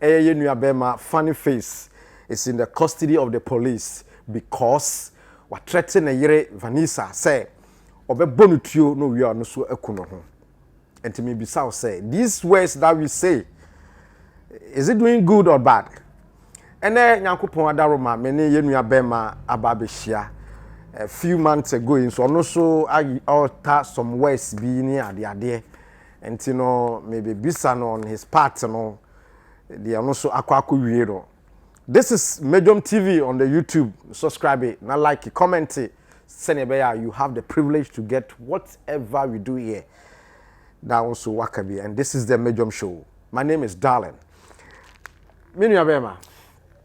Ɛyɛ yɛn nua bɛɛma funny face is in the custody of the police because watrɛte ne yere Vanessa sɛ ɔbɛbɔ no tuo na owia ɔno so aku ne ho. Nti me bisa wo sɛ these words that we say is it doing good or bad? Ɛnɛ Nyankopɔn adaroma me ne yɛn nua bɛɛma aba abɛhyia a few months ago yi nso ɔno so ɔta some words bi ne adeadeɛ. Nti no me be bisa no on his part no deɛ ɔno nso akɔ akɔ wie no. This is Medwom TV on the YouTube, subscribe na like, comment sɛdeɛ ɛbɛyɛ a you have the privilege to get whatever we do here. Na wo nso waka bi and this is the Medwom show. My name is Darling. Me nua bɛɛma.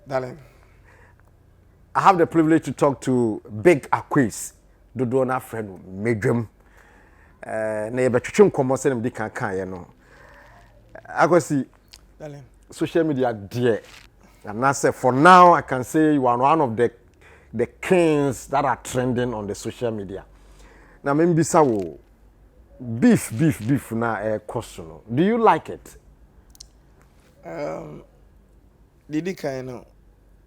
Darling. I have the privilege to talk to Big Aquis. dodoɔ no ara frɛ no Medwam. Na yɛbɛtwetwe nkɔmmɔ sɛdeɛ mede kan kaeɛ no. Akwasi, social media deɛ, anaasɛ for now I can say you are one of the the kings that are trending on the social media. Na membisa wo, beef beef beef na ɛkɔ so no do you like it um, didi kan no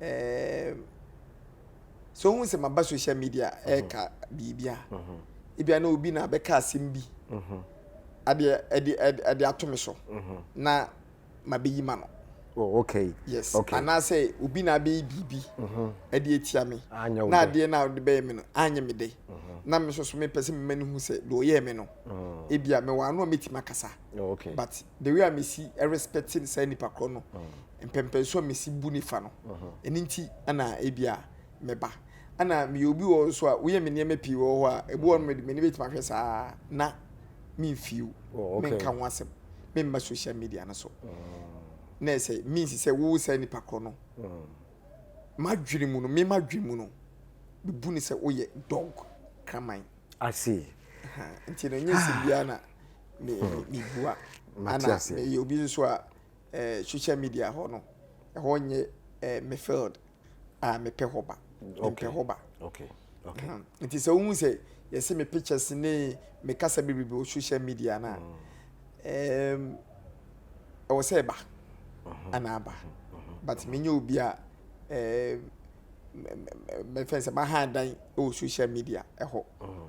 um, so ohun sɛ maba social media ɛka biribi a ebia na obi na abɛka asɛm bi adeɛ ɛde ɛde ato me so na mabɛyi ma no Oh, okay. yes okay. anaasɛ obi na abɛyɛ biribi ɛde atia me Anyɛ wo na dɛ. adeɛ no a wode bɛyɛ me no anyɛ me dɛ na me nso so mepɛ sɛ mema no hu sɛ deɛ ɔyɛɛ me no ebia mewɔ ano a mɛtumi akasa Oh, okay. but the way a mesi respect saa nipa korɔ no mpɛmpɛnso a mesi bu ne fa no, ɛno nti na ebia meba. Ɛna meyɛ obi wɔ hɔ nso a, woyɛ me nneɛma pii wɔ hɔ a, ebi wɔ hɔ nom de m'ani bɛtumi ahwɛ saa na memfiw, oh, menka ho asɛm, memma social media no so. Na ɛsɛ means sɛ wowo saa nipa korɔ no, m'adwene mu no, me m'adwene mu no, mebu ne sɛ woyɛ dog kraman. I see. Nti no, nyɛ sɛ biara na mebua. Ana meyɛ obi nso a eh, social media hɔ no, ɛhɔ nyɛ eh, me field a mepɛ hɔ ba. Mempɛ hɔ ba. Okay. Okay. Mm. Nti sɛ wohu sɛ yɛse me pictures ne me kasa bebrebe wɔ social media no a, mm. um, ɛwɔ sɛ ɛba mm-hmm. anaa ba. Mm-hmm. But mm-hmm. menyɛ obi a eh, mɛfɛn sɛ maha dan wɔ social media ɛhɔ. Mm.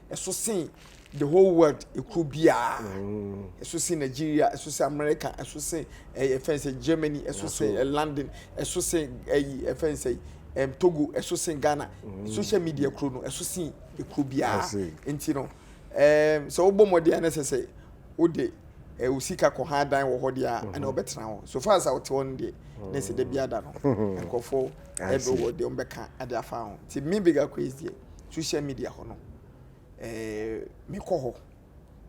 ɛso sen the whole world ekuo biara mm. ɛso sen nigeria ɛso sen america ɛso sen ɛyɛ fɛn sɛ germany ɛso sen eh, london ɛso sen ɛyi eh, ɛfɛn eh, sɛ ɛm togo ɛso sen ghana mm. social media kuro no ɛso sen ekuo biara nti no ɛɛm sɛ wobɔ mɔden ɛna sɛ sɛ wode ɛwɔ sika kɔ ha dan wɔ hɔ deɛ a ɛna mhm. ɔbɛtena hɔ so far as a wɔte hɔ no deɛ ne sɛ dabi ada no nkurɔfoɔ ɛbɛ wɔ deɛ ɔmbɛka ade afa ho nti me bigger quiz deɛ social media hɔ no ɛɛ mekɔ hɔ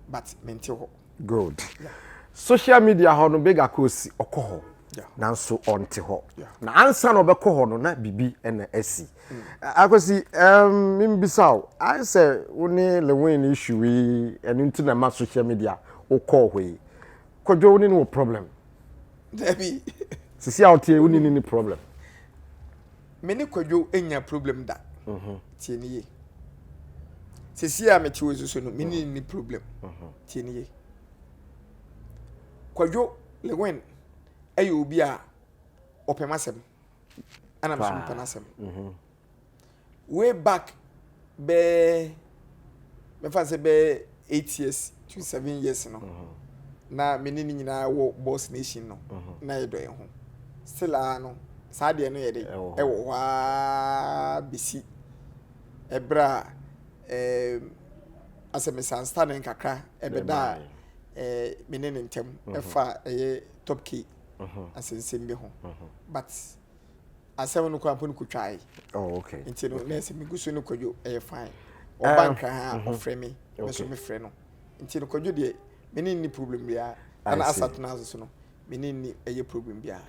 but mente hɔ. good yeah. social media hɔ no big akosi ɔkɔ hɔ yeah. nanso ɔnte hɔ yeah. na ansa na ɔbɛkɔ hɔ no na bibi ɛna asi mm. akosi um, mbisa o ayɛ sɛ wo ne lewin no issue yi ɛno nti na ma social media wokɔɔ hɔ yi kɔdwo wo ne no wɔ problem dabi sisi a woteɛ wo ne ne problem Me ne Kwadwo nnya problem da. Tie no yie. Sesie a mete wo so no, me ne ni problem. Tie no yie. Kwadwo Lewin ɛyɛ obi a ɔpɛ m'asɛm. Ɛna me so mepɛ n'asɛm. Way back bɛyɛ mɛfa no sɛ bɛyɛ eight years to seven years no na me ne ne nyinaa wɔ boss nation no na yɛdɔ yɛn ho still a no saa deɛ no yɛ de ɛwɔ hɔ aa bɛsi ɛberɛ a ɛɛm asɛ misunderstanding kakra ɛbɛda a ɛɛ me ne ne ntɛm ɛfa ɛyɛ top key asɛnsɛm bi ho but. Asɛm no koraa mpo no kɔtwae. Oh, okay. Nti no, na ɛsɛ megu so ne kwadwo ɛyɛ fine. Ɔba ah, nkran a, mhm. ɔfrɛ me, me so mefrɛ no. Nti no, kwadwo deɛ, me ne nni problem biara. Ana asatena ase so no, me ne nni ɛyɛ problem biara.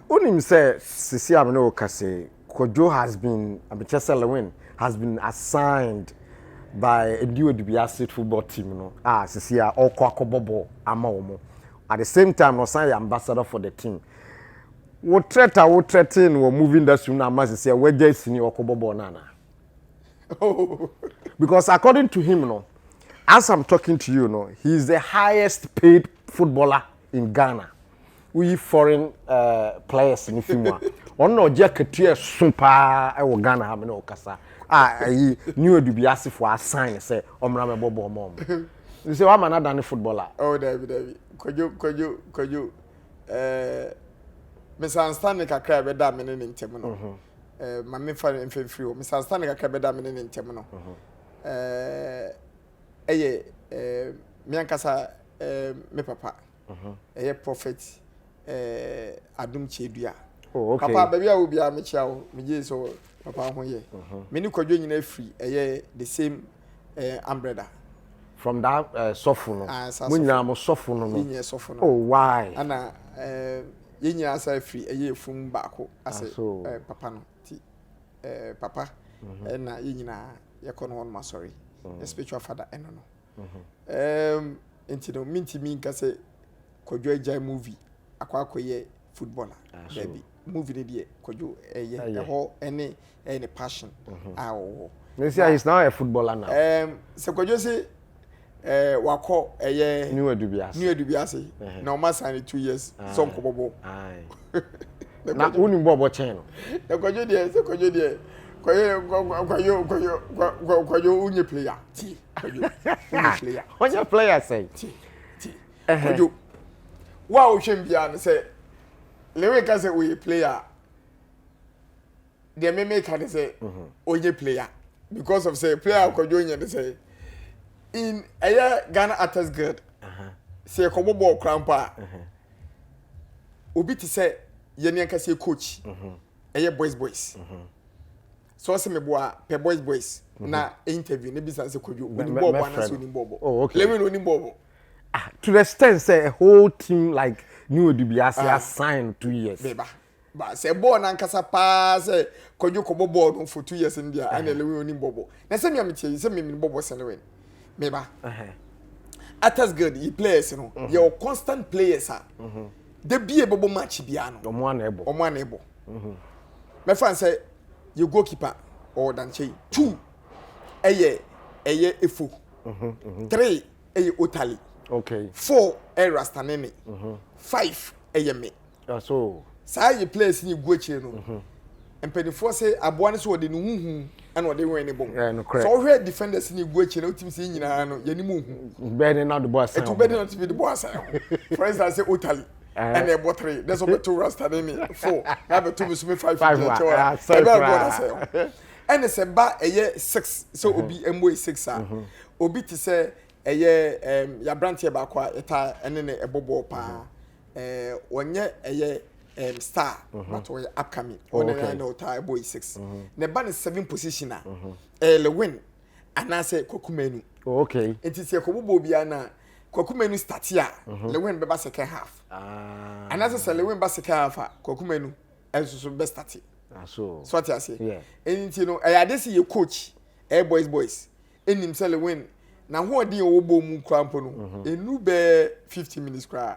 Wonim sɛ sisi a me ne wo ka se, Kwadwo has been, abekyɛ sɛ Lewin, has been assigned by Edi Odibiase football team no a ah, sisi a ɔkɔ akɔbɔ bɔɔl ama wɔn. At the same time, ɔsan yɛ ambassador for the team. Wo threat a wo threatee no wɔ movie industry mu na ama sɛsɛ w'agyae sini ɔko bɔ bɔɔl no anaa? Because according to him no, as I'm talking to you no, he is the highest paid footballer in Ghana. Woyi foreign uh, players no fi mu a, ɔno na ɔgye akatua ɛso paa ɛwɔ Ghana ha me na ɔkasa a ɛyi New Adubiasefoɔ asan sɛ ɔmmra mɛbɔ bɔɔl ma ɔmo. Nsɛ wama no adane footballer. Oh, dabi, dabi. Kwadwo, kwadwo, kwadwo. mesansane kakra a ɛbɛda me ne ne ntam no mhm. ma mefa mfimfiri hɔ mesansane kakra bɛda me ne ne ntam no mhm. ɛyɛ me ankasa me papa mhm. ɛyɛ prophet adom kyɛdua oh, papa baabi a wo biara mekyia wo megye sɛ papa ho yɛ me ne kwadwo nyina firi ɛyɛ the same eh, ambrɛda from that uh, eh, sɔfo no ah, mo nyinaa mo sɔfo no no oh why ana eh, yɛn nyinaa asa afiri ɛyɛ efum baako ase ah, so, eh, papa no ti eh, papa mm -hmm. eh, na yɛn nyinaa yɛkɔ no wɔn asɔre mm -hmm. spiritual father ɛno eh, no mm -hmm. eh, nti no mintimi nka sɛ kɔdwa agya movie akɔ akɔyɛ footballer ah, baabi movie no deɛ kwadwo ɛyɛ ɛhɔ ɛne ɛyɛ ne passion mhm. a ɔwɔ ne sɛ he is now a footballer now um, sɛ kwadwo se eh, wakɔ ɛyɛ new adubi ase new adubi ase na ɔma san ne two years sɛ nkɔbɔbɔ na wonim bɔ ɔbɔ kyɛn no na kwadwo deɛ sɛ kwadwo deɛ kwayo kwayo kwayo kwayo kwayo wonyɛ player ti kwayo wonyɛ player wonyɛ player sɛn ti Kojo, wo a wohwɛ mbia no sɛ Lewe ka sɛ ɔyɛ player a, deɛ meme ka ne sɛ ɔnyɛ player because of sɛ player a Kojo nyɛ ne sɛ in ɛyɛ Ghana Artist Guild sɛ yɛkɔbɔ bɔɔl koraa mpo a obi te sɛ yɛne ankasa coach ɛyɛ boys boys Sɛ ɔse me boa pɛ boys boys na interview ne bisa sɛ kwadwo onim bɔɔl bɔ anase onim bɔɔl bɔ. Oh okay. Lewi no onim bɔɔl bɔ. Ah to the extent sɛ a whole team like ne odi bi ase ah. assign two years. Beba ba sɛ bɔɔl nankasa paa sɛ kwadwo kɔ bɔ bɔɔl no for two years no deɛ uh-huh. ɛna Lewi onim bɔɔl bɔ. Na sɛ mia mi tie sɛ mi mi bɔɔl bɔ sɛ Lewi. Meba. Uh-huh. Atas guild yi players no uh-huh. yɛ constant players a. Uh-huh. De bie bɛbɔ match biara no. Ɔmo ana ɛbɔ. Ɔmo ana ɛbɔ. Uh-huh. Mɛfa n sɛ yɛ goal keeper ɔwɔ dankyɛn two ɛyɛ ɛyɛ efo three ɛyɛ otali okay. four ɛyɛ rastanene five ɛyɛ me so saa yɛ players ni gu akyire no mpanimfoɔ sɛ aboa no sɛ ɔde ne huhu ɛna ɔde wɛn ne bom sɛ ɔhwɛ defenders ni gu akyire no wotumi sɛ nyinaa no yɛne mu hu bɛɛ ne na de bɔ asan ɛtu bɛɛ ne na de bɔ asan for instance otali ɛna ɛbɔ three dɛ sɛ ɔbɛto rasta ne ne four na abɛto me so me five gyina kyɛw a ɛbɛ ɛbɔ na sɛ ɛna sɛ ba ɛyɛ six sɛ mhm. obi ɛmɔ yɛ six a mhm. obi te sɛ ɛyɛ ɛɛm yabranteɛ baako a ɛta ɛne ne ɛbɔ bɔɔl paa mhm. ɛɛ wɔnyɛ ɛyɛ ɛɛm star but ɔyɛ upcoming ɔne oh, na ɔta ɛbɔ yɛ six na ɛba ne seven position a ɛɛ lewin. anaasɛ kwakumanu oh, okay nti sɛ yɛkɔbobɔ obiara no a kwakumanu starte a mhm. lewin bɛba second half ah. anaasɛ sɛ lewin ba second half a kwakumanu nso so bɛ starte ah, so ɔte ase nti no ɛyɛ ade sɛ yɛ coach ɛyɛ eh, boys boys ɛnim sɛ lewin na hoɔden a ɔwɔ bɔɔ mu koraa mpo no ɛnu mhm. bɛɛ 50 minutes koraa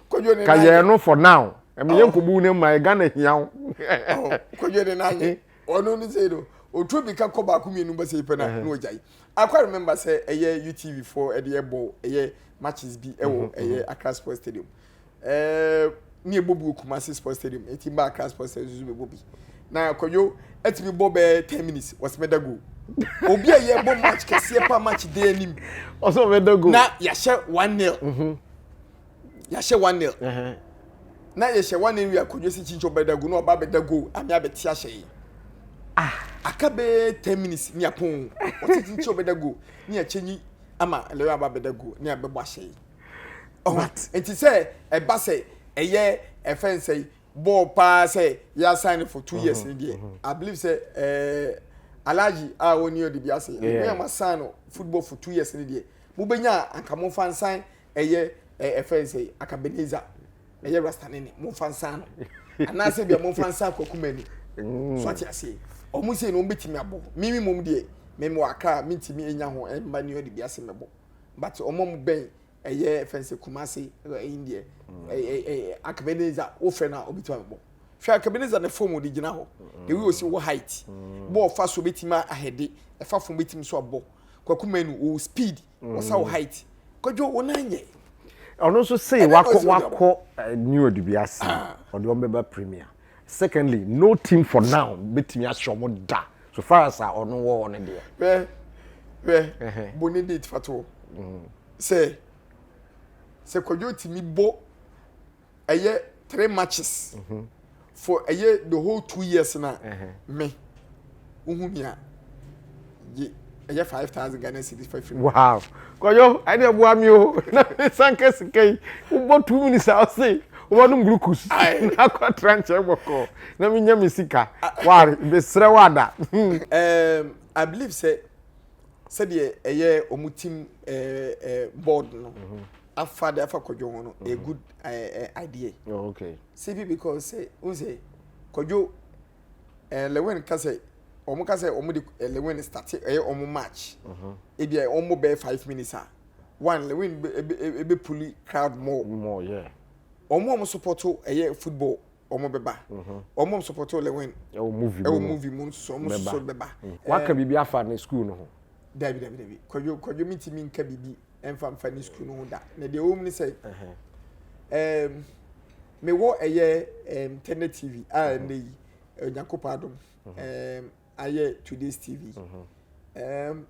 kwadwo ne ka yɛn no for now ɛmi yɛn kò bu ne mma yɛ ghana hia o. kwadwo ne n'anyɛ ɔno ne sɛ no otu obi ka kɔ baako mmienu bɛ sɛ yi pɛ na na ɔgya yi akwa remember sɛ ɛyɛ utv foɔ ɛde ɛbɔ ɛyɛ matches bi ɛwɔ ɛyɛ akra sports stadium ɛɛ ne ɛbɔ bi wɔ kumasi sports stadium eti mba akra sports stadium nso bɛbɔ bi na kwadwo ɛtumi bɔ bɛɛ ten minutes wɔsɛ mɛda goal obi a yɛ bɔ match kɛseɛ pa match de anim ɔsɛ ɔbɛda goal na yɛahyɛ one nil. yɛahyɛ one nil na yɛhyɛ one nil wie akonnwa si kyinkyin ɔbɛdagu na ɔba abɛda goal ame abɛte ahyɛ yi ah. aka bɛyɛ ten minutes ni apon ɔte kyinkyin ɔbɛda goal ne yɛkyɛ nyi ama lɛyɛ aba abɛda goal ne abɛbɔ ahyɛ yi ɔho nti sɛ ɛba sɛ ɛyɛ ɛfɛ nsɛ yi bɔɔl paa sɛ yɛasan no for two years ni deɛ i believe sɛ ɛɛ. Eh, alaji a wɔn ni ɔde bi ase ɛyɛ wɔn asan no football for two years ni deɛ mo bɛ nya anka mo nfa nsan ɛyɛ ɛɛ ɛfɛ nsɛ yi akabeniza ɛyɛ rastani ni mo nfa nsa ano anaasɛ bia mo nfa nsa akɔkuma ni mm. so ati aseɛ wɔn sɛ na wɔn bɛtumi abɔ mimi mom deɛ mɛmi wɔ akra mi ntumi enya ho ɛmba ni ɔde bi ase mɛbɔ but wɔn mu bɛn ɛyɛ ɛfɛ nsɛ kumase ɛyi deɛ ɛɛ ɛɛ akabeniza wofɛ na ɔbɛtumi abɔ hwɛ akabeniza ne fom de gyina hɔ mm. ewi osi wɔ height mm. bɔɔl fa so bɛtumi ahɛde ɛfa fom bɛtumi so abɔ kwakuma ni wɔ speed. wɔsa wo height kwadwo wo nan nyɛ ɔno nso sei wakɔ wakɔ eh, new ɔde bi ase ah. ɔde wɔn bɛba premier secondly no team for now betumi ahyɛ wɔn da so far as a ɔno wɔ hɔ no deɛ. bɛ bɛ bo ne date fatoɔ mm. sɛ sɛ kwadwo tumi bɔ ɛyɛ three matches mhm. for ɛyɛ the whole two years na me wohu me a ye ɛyɛ five thousand ghana cedis five fifty. wow kɔyɔ ɛni ɛboa mi o na sanka sika yi wobɔ two minutes a ɔse wobɔ no mbulukus na akɔ tra nkyɛn bɔkɔ na mi nya mi sika wari besrɛ wada. Um, i believe sɛ sɛdeɛ ɛyɛ wɔn team ɛɛ ɛɛ board no. Mm -hmm. afa de afa kwadwo ho no a mm-hmm. good uh, uh, idea oh, okay simply because say un say kwadwo eh lewin ka say wɔn ka say wɔn de eh, lewin start ɛyɛ eh, wɔn match mm-hmm. ebi a eh, wɔn bɛyɛ five minutes a one lewin ebe ebe puli crowd more more yeah wɔn a wɔn support ɛyɛ football wɔn bɛba wɔn a sɔpɔtɔ lewin ɛwɔ movie ɛwɔ movie mu nso wɔn nso bɛba. waka biribi afa ne school no ho. dabi dabi dabi kwadwo kwadwo mi ti mi nka biribi ɛnfa nfa ne school no ho da na deɛ wɔn ni sɛ ɛɛm mewɔ ɛyɛ ɛɛm tɛnɛ tv a ɛnɛ yi ɛnyakopɔ adum ɛɛm. ayɛ today's tv mm-hmm. um,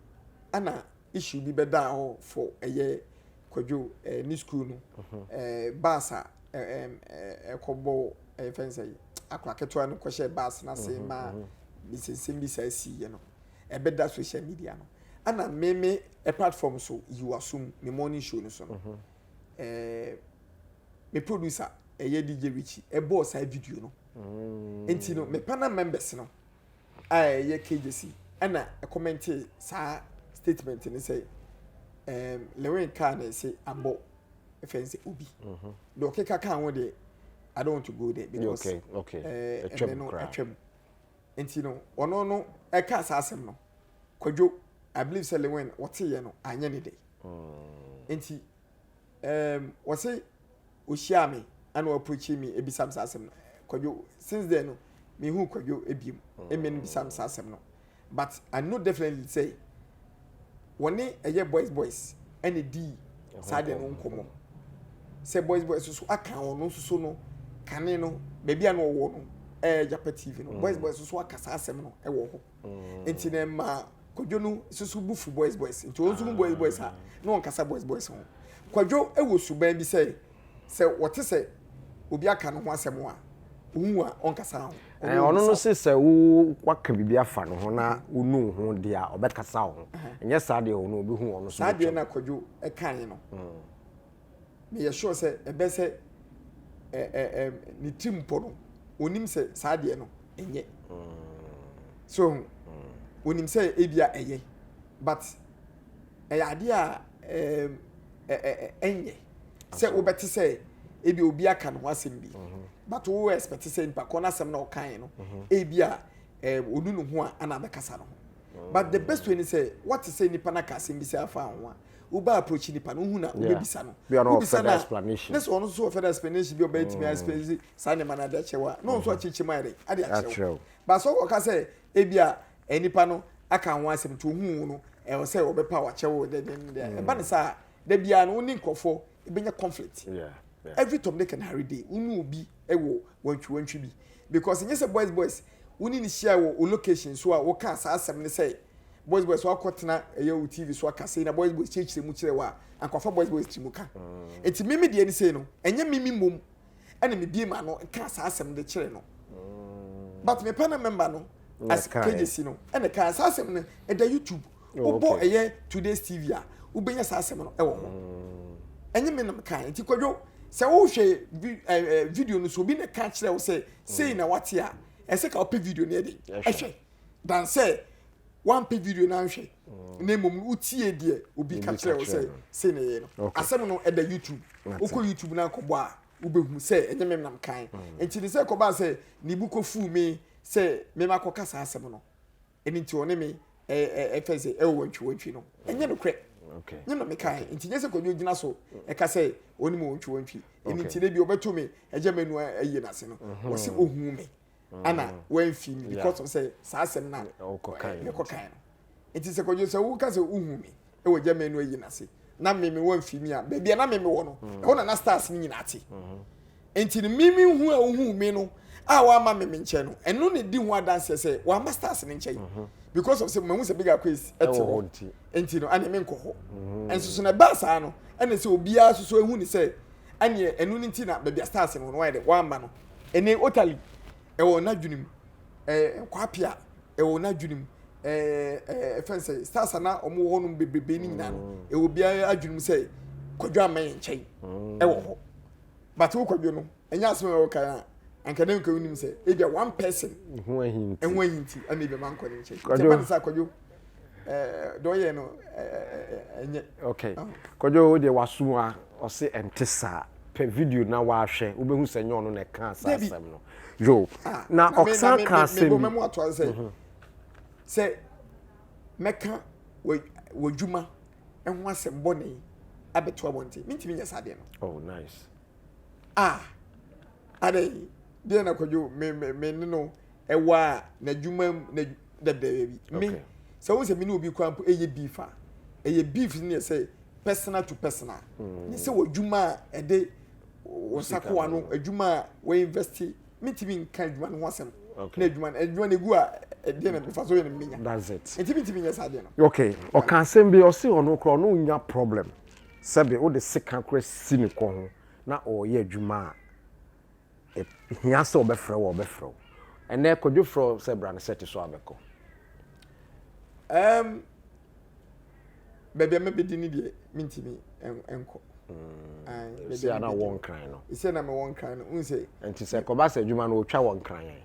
ana issue bi bɛdaa hɔ for ɛyɛ kwadwo eh, ne school no mm-hmm. eh, bus a ɛkɔbɔ eh, ɛfɛn sɛ akora ketewa no kɔhyɛ bus no ase mm-hmm, ma nsensɛm bi saa siiɛ no ɛbɛda social media no ana meme platform so yiwasum me morning show no so no me producer ɛyɛ dj richie ɛbɔɔ saa video no mm. nti no me panel members no a ɛyɛ Kyrgyz na ɛkɔmɛntee saa statement no sɛ um, Lewin kaa na ɛsɛ abɔ ɛfɛn sɛ obi mm-hmm. deɛ ɔkeka kaa ho deɛ I don't want to go there because okay, okay. Uh, ɛnɛ no atwam nti no ɔno no ɛka saa asɛm no kwadwo I believe sɛ Lewin wɔteyɛ no anyɛ ne dɛ mm. nti Ɛɛm ɔse ɔhyiaa me ɛna ɔaproachi me ɛbisa me saa asɛm no. Kwadwo since then no menhuu Kwadwo biom ɛmɛ no bisa me saa asɛm no but I know definitely sɛ wɔne ɛyɛ boys boys ɛna ɛdii saa deɛ no nkɔmmɔ sɛ boys boys so so aka ɔno nso so no kane no baabi a na ɔwɔ no ɛyɛ Japa TV no boys boys so so aka saa asɛm no ɛwɔ hɔ. nti na ɛma kwadwo no susu bu fu boys boys nti wɔn nso mu boys boys a na wɔn kasa boys boys ho kwadwo wɔ suban bi sɛ sɛ wɔte sɛ obi aka ne ho asɛm a ohun a ɔnkasa ho. ɛɛ ɔno no se sɛ wo waka biribi afa ne ho na wonu ho deɛ a ɔbɛkasa ho nyɛ saa deɛ ɔno obi hu ɔno so. saa deɛ na kwadwo ɛkan no. Mm. meyɛ sure sɛ ɛbɛ sɛ ɛ ɛ ɛ ne tirim mpɔ no onim sɛ saa deɛ no ɛnyɛ so onim sɛ ebia ɛyɛ but ɛyɛ adeɛ a ɛɛ ɛɛ ɛnyɛ sɛ wobɛte sɛ ebi obi aka ne ho asɛm bi but wo expect sɛ nipa kɔ n'asɛm na ɔkan no ebia ɛɛ onu ne ho a ana abɛkasa no ho but the best way ni sɛ wɔte sɛ nipa n'aka asɛm bi sɛ afa ho a. wobɛ approach nipa no wohu na wobɛbisa no wobisa no a ne sɛ ɔno nso ɔfɛ no explanation bi ɔbɛtumi mm. explanation saa nneɛma no ade akyerɛ wo a na ɔno nso mm-hmm. akyekye ma yɛde ade akyerɛ wo ba sɛ wɔka sɛ ebi a eh, nipa no aka ho asɛm nti ohun no ɛwɔ sɛ ɔbɛpa wakyɛ wo dɛdɛdɛ mm. ɛba ne saa da biara no wo ne nkurɔfoɔ ebenya conflict every tom dick and harry day wo ne obi wɔ wantwi wantwi bi because nyɛ sɛ boys boys wo ne ne hyia wɔ o location so a wɔka saa asɛm ne sɛ boys boys so akɔtena ɛyɛ o tv so aka sei na boys boys kyerɛkyerɛ mu kyerɛ wɔ a ankwafa boys boys tiri mu ka mm. nti mimi deɛ ne sei no ɛnyɛ mimi mmom ɛna me bie ma no nka saa asɛm de kyerɛ no mm. but me panel member no as kejesi no ɛna kan saa asɛm no ɛda youtube oh, wobɔ ɛyɛ today's tv a wobɛnya saa asɛm no ɛwɔ hɔ ɛnyɛ me nam kan nti kwadwo sɛ wohwɛ video no so obi na ka kyerɛ wo sɛ sei na wate a ɛsɛ ka wopɛ video no ɛde ɛhwɛ dan sɛ wampɛ video no anhwɛ na mmom no wotie deɛ obi ka kyerɛ wo sɛ sei na ɛyɛ no asɛm no ɛda youtube wokɔ youtube no akɔbɔ a wobɛhu sɛ ɛnyɛ me nam kan mm. nti ne sɛ kɔbaa sɛ ne bu kɔfuu me sɛ mema kɔka saa asɛm no ɛno nti ɔne me ɛfɛ sɛ ɛwɔ wantwiwantwi no ɛnyɛ nokorɛ nyɛ na meka nti nyɛ sɛ kɔdwo gyina so ɛka sɛ ɔne mu wantwiwantwi ɛno nti da bi ɔbɛto me agya manu ayi no ase no ɔsɛ ɔhu me ana mm. wɔamfi me because of sɛ saa asɛm na mekɔkae no nti sɛ kɔdwo sɛ woka sɛ wohu me ɛwɔ gya manu ayi no ase na meme wɔamfi me a baabi a na meme wɔ no mm. ɛhɔ na na stars no nyinaa te mm-hmm. nti no meme hu a wohu me no a wɔama meme nkyɛn no ɛno na di ho adanseɛ sɛ wɔama stars no nkyɛn mm-hmm. because of sɛ mahu sɛ bigger quiz ɛte hɔ nti no ɛne menkɔ hɔ mm-hmm. ɛnso so na ɛbaa saa no ɛne sɛ obiara soso ehu ne sɛ ɛne ɛno ne nti na baabi a stars no wɔayɛ dɛ wɔama no ɛne otally ɛwɔ n'adwene mu ɛɛ kwapia ɛwɔ n'adwene mu ɛɛ ɛɛ fɛn sɛ stars ana wɔn wɔ hɔnom bebrebe ne nyinaa no mm. ɛwɔ biara adwene mu sɛ kwadwo ama yɛn nkyɛn mm. ɛwɔ hɔ but wo kwadwo no ɛnyɛ asɛm a ɛwɔ kan a anka ne nkwa wonim sɛ ebia one person ɛho ahinti ɛna ebia ma nkɔ ne nkyɛn nti ɛma ne sɛ akwadwo deɛ ɔyɛ no ɛnyɛ. okay kɔdwo wo deɛ waso a ɔse ɛnte saa pɛ video na wahwɛ wobɛhu sɛ nyɛ ɔno na ɛka saa asɛm no yo ah, na ɔsan ka asɛm mebɔ mɛmu ato ase sɛ mhm. sɛ mɛka w'adwuma ɛho asɛm bɔne abɛto abɔnten mentumi nyɛ saa deɛ no oh nice ah adɛn deɛ na kɔdwo me me me ne no Ɛwɔ a n'adwuma mu na dɛdɛ yɛ bi. Me sɛ wo sɛ me ne obi kura mpo ɛyɛ beef a ɛyɛ beef ne yɛ sɛ personal to personal. Ne sɛ wɔ adwuma a ɛde wɔ sakoa no adwuma a wɔ invest me ti mi nka adwuma no ho asɛm. Na adwuma no adwuma no egu a ɛdeɛ na mefa so yɛ no menya. That's it. Nti me ti mi nyɛ saa deɛ no. Okay. Ɔka asɛm bi ɔsi ɔno kura ɔno nya problem sɛbe wode sika kura si ne kɔ ho na ɔyɛ adwuma a. hia sɛ ɔbɛfrɛ wo a ɔbɛfrɛ wo. Ɛnnɛ Kwadwo frɛ wo sɛ bra ne sɛte so a bɛkɔ. Ɛɛm baabi a mɛbɛdi ne deɛ mentumi nkɔ. Mm. Sɛ na wɔ nkran no. Sɛ na mewɔ nkran no, wohu sɛ. Nti sɛ kɔba sɛ adwuma no wotwa wɔ nkran yɛn.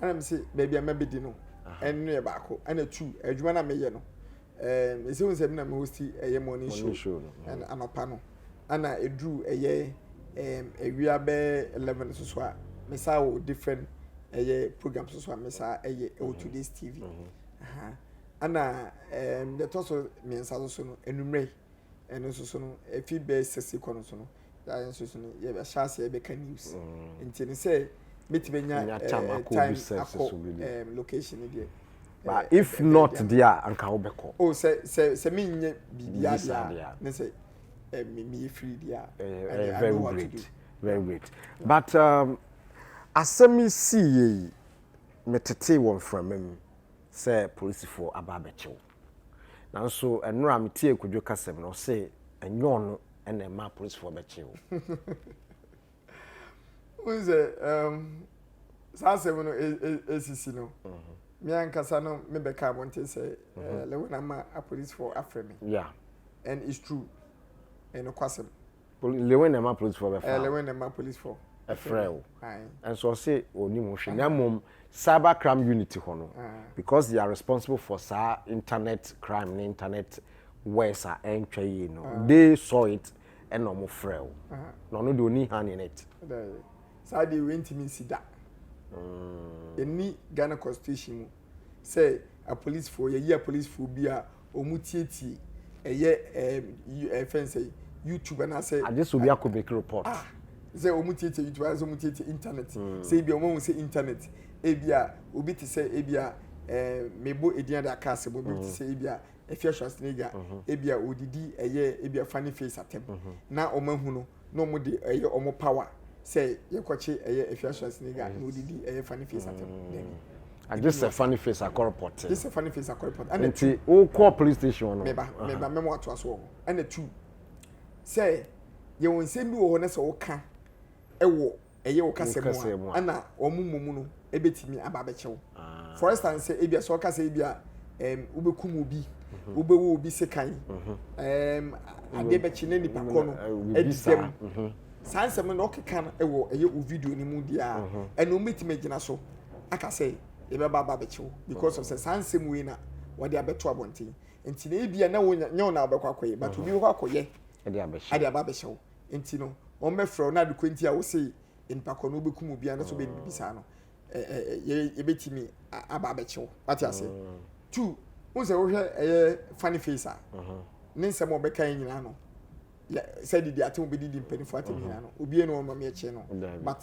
Ɛna me sɛ baabi a mɛbɛdi no ɛno yɛ baako ɛna tu adwuma no a meyɛ no ɛɛ esi ho sɛ mi na mi hosti ɛyɛ morning show ɛna mm. anɔpa no ɛna eduru ɛyɛ ɛɛm ewia bɛɛ eleven soso a mi saa wɔ different ɛyɛ program soso a mi saa ɛyɛ ɛwɔ today's tv mm-hmm. ɛna ɛɛm deɛ ɛtɔ so mmiɛnsa soso no enumere ɛno soso no efi bɛɛ sɛsi kɔ no so no. na yɛn nso so no yɛbɛhyɛ ase yɛbɛka news mm. nti no sɛ mɛtumi anya eh, time akɔ eh, location no deɛ but eh, if not deɛ a anka wobɛkɔ o oh, sɛ sɛ sɛ menyɛ biribiaa deɛ a ne sɛ meyɛ firi deɛ a very great very great but um, asɛm yi sii yɛ yi metetee wɔ mframa mu sɛ polisifoɔ aba abɛkyew Nanso ɛnora metiee Kwadwo kasam no ɔse ɛnyɛ ɔno na ɛma apolisifoɔ bɛkyee wo. Wohu sɛ um, saa asɛm no ɛsisi e, e, no mhm. me ankasa no mebɛka abɔnten sɛ eh, mhm. lewena ma apolisifoɔ afrɛ me yeah. and it's true ɛnokwasɛm lewen na ɛma polisifoɔ bɛfa eh, lewen na ɛma polisifoɔ ɛfrɛ wo ɛnso ɔse ɔnim ho hwɛ na mmom cyber crime unit hɔ no ah. because they are responsible for saa internet crime ne internet worse a ɛntwa yie no ah. they saw it ɛna ɔmo frɛ wo ah. na ɔno deɛ ɔni hand in it saa deɛ wei ntumi nsi da ɛni mm. ghana constitution mu sɛ apolisifoɔ yɛyi apolisifoɔ bi a wɔn tietie ɛyɛ ɛɛ fɛn sɛ youtube anaasɛ. agye sɛ obi akɔ make report. ah sɛ wɔn tietie youtube anaasɛ wɔn tietie internet hmm. sɛ ebi a wɔn ahu sɛ internet ebi a obi te sɛ ebi a ɛɛ mebo edin adi aka ase bɔ obi te hmm. sɛ ebi a efi ahyɛnso n'ega hmm. ebi a odidi ɛyɛ ebi a funny face atɛm na wɔn ahu no na ɔmo de ɛyɛ ɔmo power sɛ yɛkɔkye ɛyɛ Afia Swasini ga na odidi ɛyɛ Funny Face atɛm mm. dɛbi. agye sɛ Funny Face akɔrepɔte. agye sɛ Funny Face akɔrepɔte. ɛna tu nti wokɔ police station no. mɛba mɛba mɛmo ato aso wɔ hɔ ɛna tu sɛ yɛwɔ nsɛm bi wɔ hɔ na sɛ ɔka ɛwɔ. ɛyɛ wo kasa mu a ɛna wɔn mmom no ɛbɛtumi aba abɛkyɛ wo ah. for instance sɛ ebia sɛ ɔkasa ebia ɛm wobɛkum obi mhm. wobɛwɔ obi sekan mhm. ɛm adeɛ bɛkye na nipa kɔ no ɛdisɛm mhm. saa nsɛm no na ɔkeka no ɛwɔ ɛyɛ wo video no mu deɛ a ɛna wɔn bɛtumi agyina so aka sɛ yɛbɛba aba abɛkyɛ wo because of sɛ saa nsɛm wei na wɔde abɛto abɔnten nti na ebia na wɔnyɛ wɔn na wɔbɛkɔ akɔyɛ but obi bɛkɔ akɔyɛ ɛde aba abɛhyɛ wo nti no wɔn bɛ frɛ wo na ade kɔ nti a wose nipa kɔ no wobɛkum obi anaasɛ wobɛ bibi saa no yɛbɛtumi aba abɛkye wo wate aseɛ mm. two wo sɛ wohwɛ ɛyɛ funny face a mm-hmm. ne nsɛm a ɔbɛka yɛ nyinaa no sɛ didi ate wo bɛdidi mpanimfoɔ ate mm-hmm. nyinaa no obie no ɔma meɛkye no but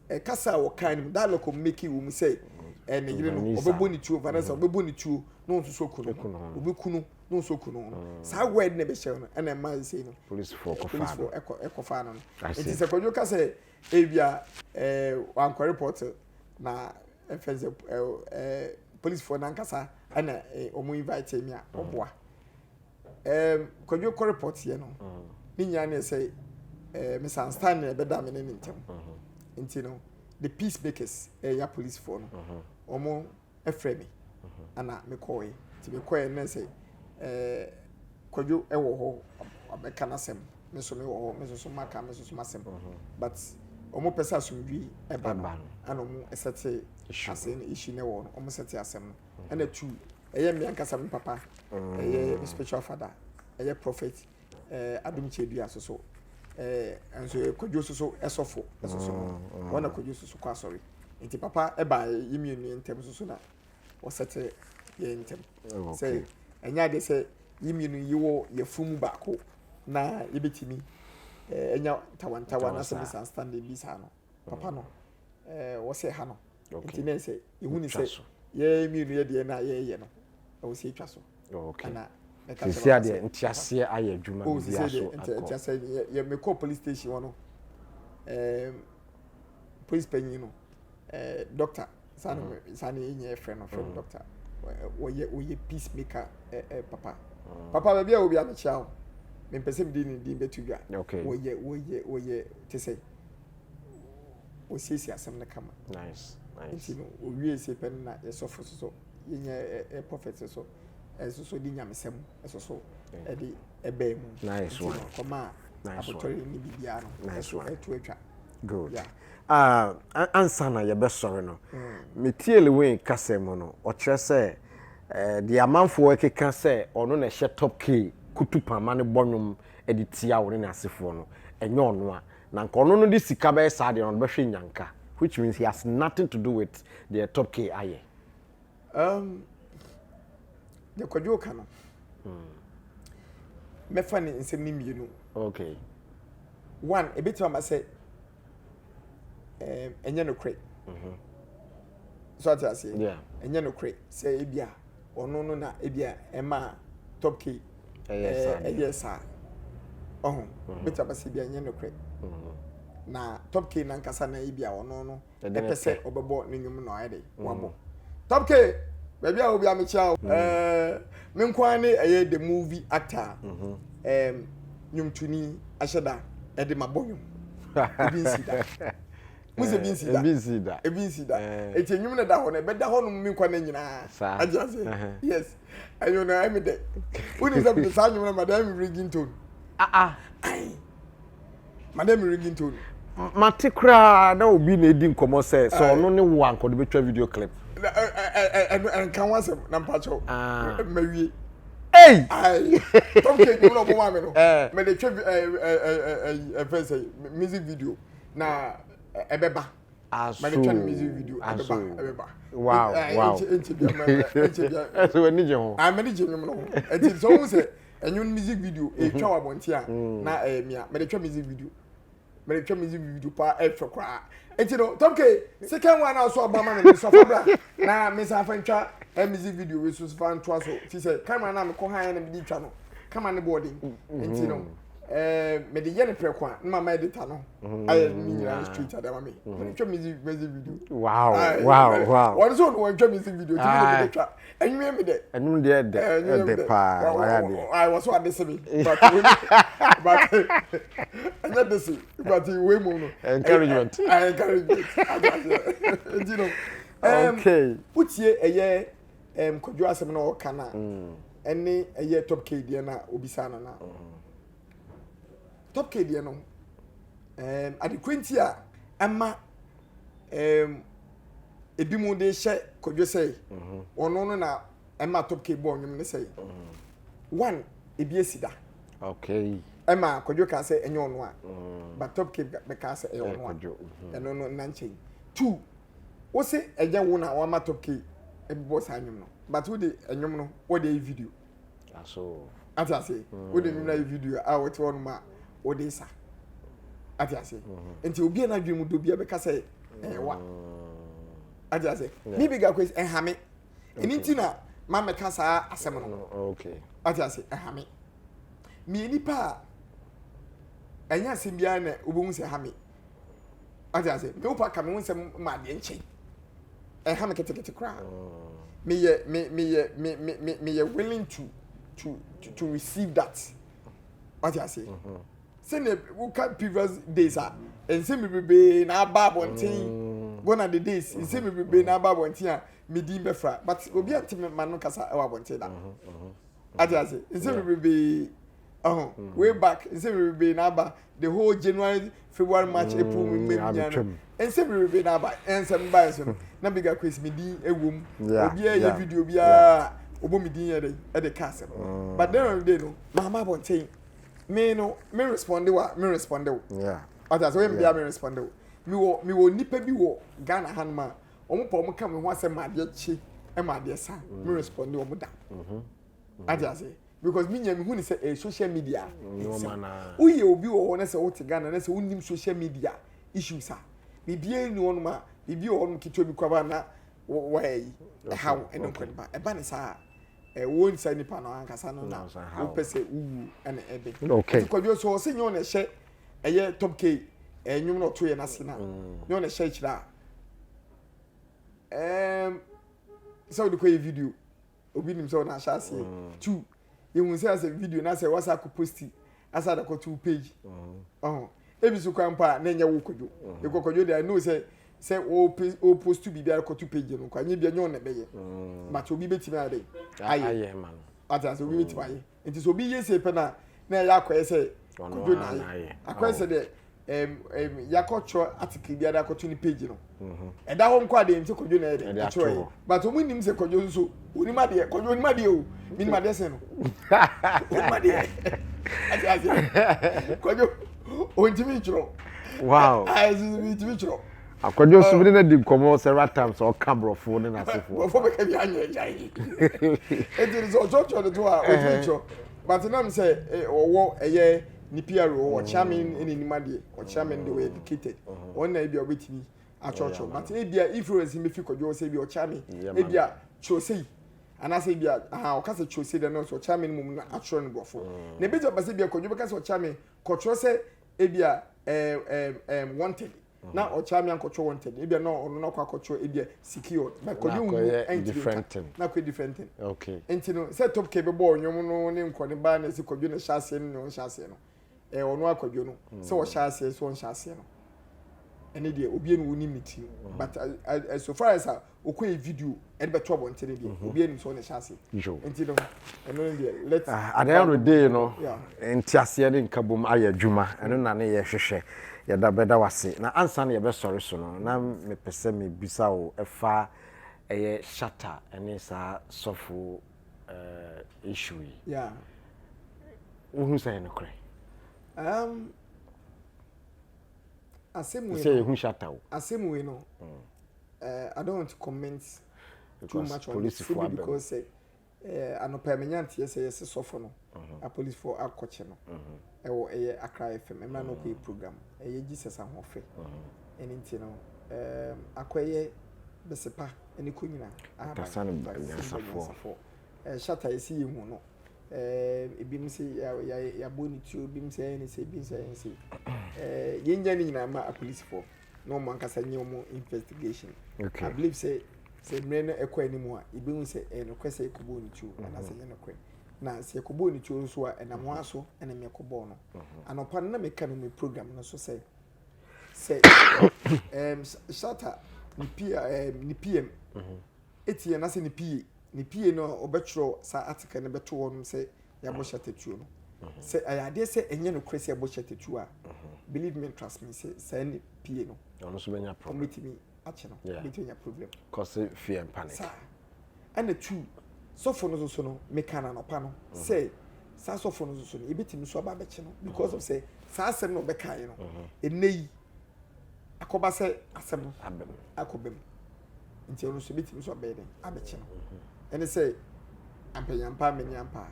ɛkasa a wɔka no mu dialogue ɔmo make wo mu sɛ ɛne yere no ɔbɛbɔ ne tuo vanessa ɔbɛbɔ ne tuo na ɔnso so kunu ɔbɛkunu mo nso kun no mm. saa word na ɛbɛhyɛ no ɛna ɛma ɛsɛ no polisifoɔ ɛkɔfa no no nti sɛ kwadwo ka sɛ ebia ɛɛ wankɔ report na ɛfɛ sɛ ɛɛ ɛɛ polisifoɔ nankasa ɛna wɔn invite mi a ɔboa ɛɛ kwadwo kɔ report yɛ no mm. ne nyinaa ne sɛ ɛɛ misunderstand na ɛbɛda mi ne ne ntɛm mm-hmm. nti no the peacemakers ɛyɛ polisifoɔ no wɔn. frɛ me ɛna me kɔɔɛ nti me kɔɔɛ na sɛ ɛɛ kwadwo ɛwɔ hɔ abɛka n'asɛm me nso me wɔ hɔ me nso so maka me nso so m'asɛm but ɔmo pɛ sɛ asomdwi ɛba no ɛna ɔmo ɛsɛte asɛe no issue na ɛwɔ no ɔmo sɛte asɛm no ɛna tu ɛyɛ me ankasa me papa ɛyɛ me spiritual father ɛyɛ prophet. Ɛɛ Adom Kyɛdua so so. Ɛɛ nso yɛ Kwadwo so so ɛsɔfo ɛso so no. Mm, mm. Wɔn na Kwadwo so so kɔ asɔre. Nti papa ɛbaa yɛ mmienu yɛ ntɛm so so na wɔsɛte yɛ ntɛm. Oh, okay. Sɛ ɛnyɛ adeɛ sɛ yɛ mmienu yi wɔ yɛ funu mu baako na yɛbɛtumi ɛɛ ɛnya ntawantawa na sɛ misunderstanding bi saa no. Papa no ɛɛ wɔsɛ ha no. nti na sɛ ehu ne sɛ yɛn mmienu yɛ deɛ na yɛyɛ no ɛwɔ sɛ etwa so ɛna ɛka sɛ sisi adeɛ nti aseɛ ayɛ adwuma oh, bi aso akɔ nti asɛ yɛ yɛ mekɔ police station hɔ no ɛɛm police panyin no ɛɛ doctor saa na mm. saa na yɛ nyɛ fɛ no fɛ no mm. doctor wɔyɛ wɔyɛ peace maker ɛɛ ɛɛ papa mm. papa baabi a obi amekyia o mempɛ sɛ mede ne din bɛto dwa wɔyɛ wɔyɛ wɔyɛ te sɛ wɔsiesie asɛm no kama nice nice nti no owie se pɛ no na yɛsɔfo soso yɛnya ɛ prophet soso ɛsoso de nyamesɛm ɛsoso ɛde ɛbɛɛ mu nice one kɔma abotɔre ne biribiara no ɛso ɛto atwa good yeah. uh, ansa na yɛbɛsɔre no mm. metie lewen kasɛ mu no ɔkyerɛ sɛ uh, deɛ amanfoɔ ɛkeka sɛ ɔno na ɛhyɛ top k kutu pama no bɔ nwom de tia wo ne n'asefoɔ no ɛnyɛ ɔno a Na nka ɔno no de sika bɛyɛ saa deɛ no ɔde bɛhwɛ nyanka which means he has nothing to do with deɛ top k ayɛ. Um, deɛ kwadwo ka no mɛfa hmm. ne nsɛm no mmienu. Okay. One, ebetumi ama sɛ ɛnyɛ nokorɛ. Mm-hmm. So ate aseɛ? Yeah. Ɛnyɛ nokorɛ sɛ ebia ɔno no na ebia ɛma Top Key Ɛyɛ eh, saa deɛ. ɛyɛ saa. Ɔho, bɛtumi aba sɛ ebia ɛnyɛ nokorɛ. Na Top Key nankasa na ebia ɔno no Ɛde ne ɛpɛ sɛ pɛ. ɔbɛbɔ ne nnwom na ɔayɛ dɛ wabɔ. Top Key, baabi a wɔ biara mekyia wo. Eh, me nko ara ne ɛyɛ the movie actor a eh, nnwomtoni ahyɛ da ɛde mabɔ nnwom. Obi nsi da. mo sɛ bi nsi da ebi nsi da ebi nsi da eti enyim na da hɔ na ɛbɛda hɔ nom mi nkwa na nyinaa agye ase yes ɛnyɛ na ɛmi dɛ wuni sɛ mi saa nyom na ma dɛ ɛmi ringing tone aa ayi ma dɛ mi ringing tone. mate koraa na obi na edi nkɔmɔ sɛ sɛ ɔno ne wo ankɔde betwa video clip. ɛno ɛnka ho asɛm na mpakyɛw mmawie. Hey! Ayi, top cake mu na ɔmo maa mi no. Mɛ de twɛ ɛyi ɛfɛ sɛ music video. na ɛbɛba aso aso wow wow ɛsɛ w'ani gye ho m'ani gye nnwom no ho ɛti sɛ wohu sɛ ɛnwom music video ɛtwa wɔ abɔnten a na ɛyɛ mia mede twa music video mede twa music video paa ɛfɛ koraa ɛti no tɔpke second one a so ɔba ma me no sɔfa bra na me san fa ntwa music video wei so fa ntoa so fi sɛ camera no a mekɔ ha yɛ na mede twa no camera no bɔɔden ɛnti no Eh, me de yɛ ne prɛko a na mama edita no mm, ayɛ ne nyinaa street ada ma me mm-hmm. wɔn twɛ music music video wow wow wow wɔn nso no wɔn twɛ music video tumi na mi de twa enyiwe mi dɛ enum deɛ ɛdɛ ɛdɛ paa waya deɛ ayi wɔso ade se mi but but ɛnyɛ de se but wei mu no encouragement encouragement adi ase ɛdi no okay wotie ɛyɛ. ɛm kwadwo asɛm na ɔka na mm. ɛne ɛyɛ top k deɛ na obisa no na mm-hmm. top k deɛ no ɛm adekora nti a ɛma ɛm ebi mu de hyɛ kwadwo sɛ mm-hmm. ɔno no na ɛma top k bɔ ɔnwom ne sɛ mm-hmm. one ebi esi da okay ɛma kwadwo kaa sɛ ɛnyɛ ɔno a mm. but top k bɛka sɛ ɛyɛ ɔno a ɛno no nankyɛn two Wose ɛnyɛ wo na wama top key ɛbobɔ saa nwom no but wode ɛnwom no wode ayi video aso ate ase mm. wode nwom no ayi video a wɔte hɔ nom a wode sa ate ase mm-hmm. nti obi a n'adwene mu dɔ bi a bɛka sɛ ɛyɛ wa mm. ate ase ne bi ga kwesi ɛha me ɛni nti na ma mɛka saa asɛm no mm, ate ase ɛha me mmiɛ nipa a ɛnyɛ asɛm biara na wobɛhu sɛ ɛha me ɔte ase me wopa ka me ho nsɛm ma adeɛ nkyɛn ɛha me ketekete koraa meyɛ me meyɛ me me me meyɛ willing to to to, to receive that ɔte ase mm-hmm. sɛnea woka previous days a nsɛm bebrebe na aba abɔnten mm. gone are the days mm-hmm. nsɛm bebrebe na aba abɔnten a me din bɛfra but obi ante me ma no kasa ɛwɔ abɔnten da mm-hmm, ɔte ase nsɛm bebrebe. ɔho mm. way back nsɛ bebrebe na aba the whole january february march mm, april mu mmɛ nyina no nsɛ bebrebe na aba ɛnsɛm baeɛ so no na bigger quiz me din ɛwɔ mu obiara yɛ video biara ɔbɔ me din yɛ dɛ ɛde ka asɛm mm. but then of the day no maama abɔnten me no me responde wa me responde wo ɔtɛ asɛ wɔyɛ bia me responde wo me wɔ me wɔ nipa bi wɔ ghana ha no ma wɔn pɔ wɔn ka me ho asɛm ma adeɛ kye ma adeɛ sa me responde wɔn da ɔtɛ asɛ. because me nya me hu ne sɛ ɛyɛ social media nsɛm woyɛ obi wɔ hɔ na sɛ wote Ghana na sɛ wonim social media issues a biribiara ni hɔnom a biribi wɔ hɔnom ketewa bi kwaba na wɔyɛ yi ɛha wo ɛne nkɔ nipa ɛba ne saa ɛwɔ nsa nipa no ankasa no na wopɛ sɛ wowu ɛne ɛbɛ ɛti kwadwo so ɔse nyɛ ɔna ɛhyɛ ɛyɛ top k ɛnwom na ɔto yɛ no ase na mm. nyɛ ɔna ɛhyɛ akyirɛ a sɛ wode kɔyɛ video obi nim sɛ ɔna ahyɛ aseɛ mm. two yɛhu sɛ asɛ video na sɛ wasa akɔ posti asa de kɔto wo page mm. ɔho ebi so kwan pa a na ɛnyɛ wo kɔdwo mm. yɛkɔ kɔdwo de i know sɛ sɛ o postu biribi ara kɔto page no kɔ anyɛ bi ɛnyɛ ɔna ɛbɛyɛ but obi bɛtumi ayɛ dɛ ayɛ ate asɛ obi bɛtumi ayɛ nti sɛ obi yɛ sei pɛ na na ɛyɛ akɔyɛ sɛ kodo na ayɛ akɔyɛ sɛ deɛ ɛm ɛm yakɔtwerɛ article bi ada akɔto ne page no mhm. ɛda hɔ nkɔ adeɛ nti kodo na ɛyɛ deɛ ɛtwerɛ yɛ but wɔn nim sɛ kodo nso onim adeɛ kodo onim adeɛ o minim adeɛ sɛn no onim adeɛ ɛte aseɛ kodo ontimi ntwerɛ wow ayɛ sisi mi ntimi ntwerɛ. Akwadwo nso mene no adi nkɔmmɔ several times sɛ ɔka borɔfo ne n'asefoɔ. Borɔfo bɛka bi anyɛ agya yi. Eti no sɛ ɔkyerɛkyerɛ no to a ɔtumi kyerɛ. But nam sɛ ɔwɔ ɛyɛ ne PRO ɔkyea me ne nim adeɛ. Ɔkyea me no deɛ ɔyɛ educated. Wɔn na ebi a ɔbɛtumi akyerɛkyerɛ. But ebi a influence no bɛfi kwadwo hɔ sɛ ebi a ɔkyea me. Ebi a kyerɛ sei. Anaasɛ ebi a aha ɔka sɛ kyerɛ sei dɛ nɔɔso ɔkyea me no mmom na akyerɛ no borɔfo. Na ebi nso aba sɛ ebi a kwadwo bɛka sɛ ɔkyea me kɔkyerɛ sɛ ebi a ɛɛm ɛɛm ɛɛm wanted. na ɔkyerɛ me ankɔtwerɛ wɔn ntɛm ebia na ɔno na ɔkɔ akɔtwerɛ ebia secure na kɔde nwu ɛntiri nka na kɔyɛ different thing okay nti no sɛ top kɛ bɛbɔ ɔnwom no ne nkɔ ne baa na ɛsi kɔdwo na ɛhyɛ aseɛ no ne ɔnhyɛ aseɛ no ɛɛ ɔno akɔdwo no mm. sɛ ɔhyɛ aseɛ sɛ ɔnhyɛ aseɛ no ɛne deɛ obi ɛne wo nim ne tiri mm. but uh, uh, uh, so far as a okɔ yɛ video ɛde bɛto abɔnten no deɛ mhm. obi anim sɛ ɔne hyɛ ase nti no ɛno no deɛ let ah, at the end of the day no nteaseɛ ne nkabom ayɛ adwuma ɛno na ne yɛhwehwɛ yɛda bɛda wase na ansa na yɛbɛsɔre so no na mepɛ sɛ mebisa wo ɛfa ɛyɛ shata ɛne saa sɔfo eh, issue yi wohu sɛ yɛ nokorɛ um, asɛm wei no asɛm wei no mm. Eh, I don't want to comment too much on this fully because sɛ eh, anɔpa yi menya nteɛ sɛ yɛse sɔfo no mhm. apolisifoɔ akɔkye no mhm. ɛwɔ ɛyɛ Accra FM ɛmra no kɔyɛ mhm. program ɛyɛ Jesus ahoɔfɛ ɛne nti no eh, akɔyɛ bɛsepa ne kɔ nyina ahabanyasafoɔ eh, shata yɛsi yɛ hu no eh, ebinom sɛ yɛabɔ ne tuo ebinom sɛ ɛyɛ ne sɛ ebinom sɛ ɛyɛ ne sɛ yɛnya ne nyinaa ma apolisifoɔ na wɔn ankasa nyɛ wɔn investigation okay. i believe sɛ sɛ mmerɛ no ɛkɔ anim a yɛbɛhu sɛ ɛyɛ nokorɛ sɛ yɛkɔbɔɔ ne tuo anaasɛ ɛnyɛ nokorɛ na sɛ yɛkɔbɔɔ ne tuo nso a ɛnam hɔ aso ɛna mekɔbɔɔ no anɔpa no na meka no me program no so sɛ sɛ um, shata ne pm etie anaasɛ ne pie, ne pie no ɔbɛtwerɛ saa article no bɛto hɔnom sɛ yɛabɔ hyɛtatuo no. Mhm. Sɛ ɛyɛ adeɛ sɛ ɛnyɛ nokorɛ sɛ yɛabɔ hyɛtatuo a, mhm. believe me trust me sɛ saa ne pie no ɔmɛtumi akyɛ no bɛtumi anya problem. Kɔse fear and panic. Saa ɛna tu sɔfo no soso no meka no anɔpa no mhm. sɛ saa sɔfo no soso no yɛbɛtumi nso aba abɛkye no because of sɛ saa asɛm na ɔbɛkaeɛ no ɛnɛ yi akɔba sɛ asɛm no abam akɔba mu nti ɔno nso ebetumi nso abɛyɛ dɛ abɛkye no mhm. ɛne sɛ ampanyampa amenyampa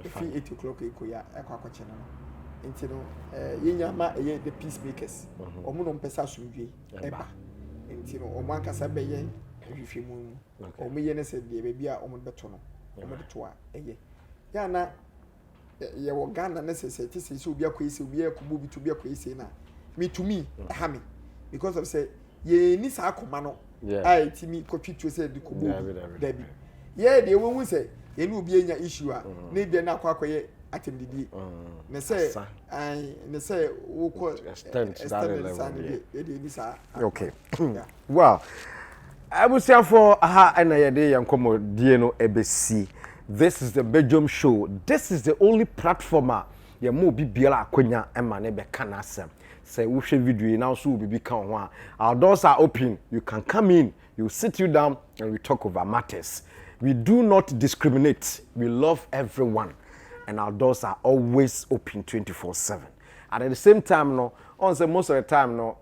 efi eight o'clock ekɔ ya ɛkɔ akɔkye no no nti no ɛɛ yɛn nyɛ ama ɛyɛ the peace makers mhm. wɔn na wɔn pɛ sɛ asomdwe ɛba nti no wɔn ankasa bɛyɛ ahwehwɛ mu wɔn yɛ ne sɛ deɛ baabi a wɔn bɛto no wɔn de to a ɛyɛ yɛn ana. yɛwɔ ghana ne sɛ sɛ te sɛ sɛ obi akɔyɛ sɛ obi akɔbɔ obi to obi akɔyɛ sɛ na metumi ɛha me because of sɛ yɛni saa akoma no a ɛtumi kɔtwe tuo sɛ de kɔbɔ obi dabi yɛ deɛ wɔhu sɛ yɛne obi anya issue a mm. na ebia no akɔ akɔyɛ atɛmdidie mm. ne sɛ ne sɛ wokɔ extend saa ne deɛ yɛde ɛni saa okay Wow! Abusuafoɔ, aha ɛna yɛde yɛn nkɔmmɔdie no ɛbɛsi. This is the Bedwam show. This is the only platform a yɛma obi biara akwanya ma ne bɛka n'asɛm. Sɛ wohwɛ video yi na nso wɔ biribi ka ho a, our doors are open. You can come in, we will sit you down and we talk over matters. We do not discriminate. We love everyone and our doors are always open 24/7. And at the same time no, ɔn sɛ most of the time no,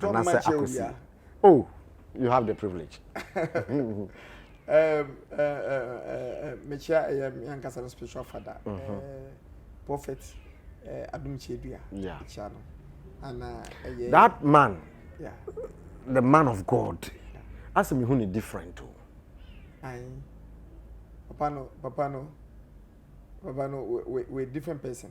anaasɛ akosi oh you have the privilege mekyia ɛyɛ meankasa no spiritual father mm-hmm. prophet adom kyɛdua kyia no ana ɛyɛ that man yeah. the man of god asɛ mehu ne different o oh. papa no papa no papa no we, we, we different person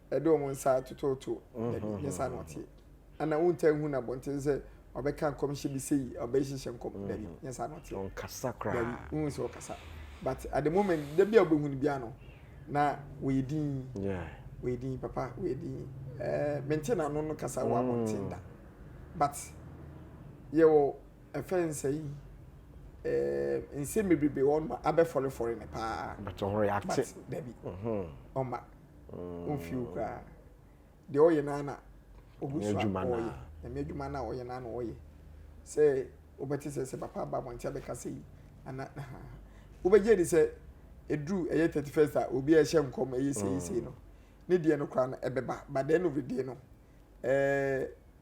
ɛde wɔn nsa atototo ne nsa na ɔteɛ ana wontaa hu no abɔnten sɛ ɔbɛka nkɔmhyɛ bi sɛ yi ɔbɛhyehyɛ nkɔm mm. dabi nyɛ saa na ɔteɛ ɔnkasa koraa dabi wohu sɛ ɔkasa but at the moment da bi a wobɛhu no biara no na wɔyɛ din wɔyɛ din papa wɔyɛ din ɛɛ mente na ano no kasa wɔ abɔnten da mm. but yɛwɔ ɛfɛ nsa yi ɛɛ nsɛm bebrebe wɔn ma abɛfɔrefɔre ne paa but ɔho yɛ ate dabi ɔma. ɔmfiri wo koraa deɛ ɔyɛ no ara na ɔgu so a ɔyɛ nyame adwuma no a ɔyɛ no ara na ɔyɛ sɛ wobɛte sɛ sɛ papa aba abɔnten abɛka sɛ yi ana wobɛgye di sɛ ɛduru ɛyɛ 31st a obi a ɛhyɛ nkɔm ɛyɛ seisei no ne deɛ no koraa no ɛbɛba but the end of the day no ɛɛ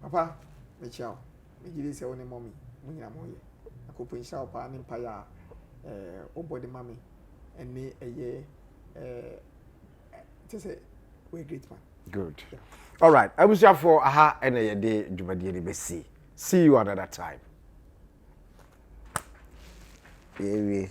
Papa mekyia wo megye di sɛ wo ne mummy mo nyinaa mo yɛ na Kofi nhyira wo paa ne mpaeɛ a ɛɛ wobɔ de ma me ɛne ɛyɛ ɛɛ kyɛ sɛ we are great man. Good. All right. Abusuafoɔ aha ɛna yɛde dwumadie no bɛsi. See you another time. Yɛwie.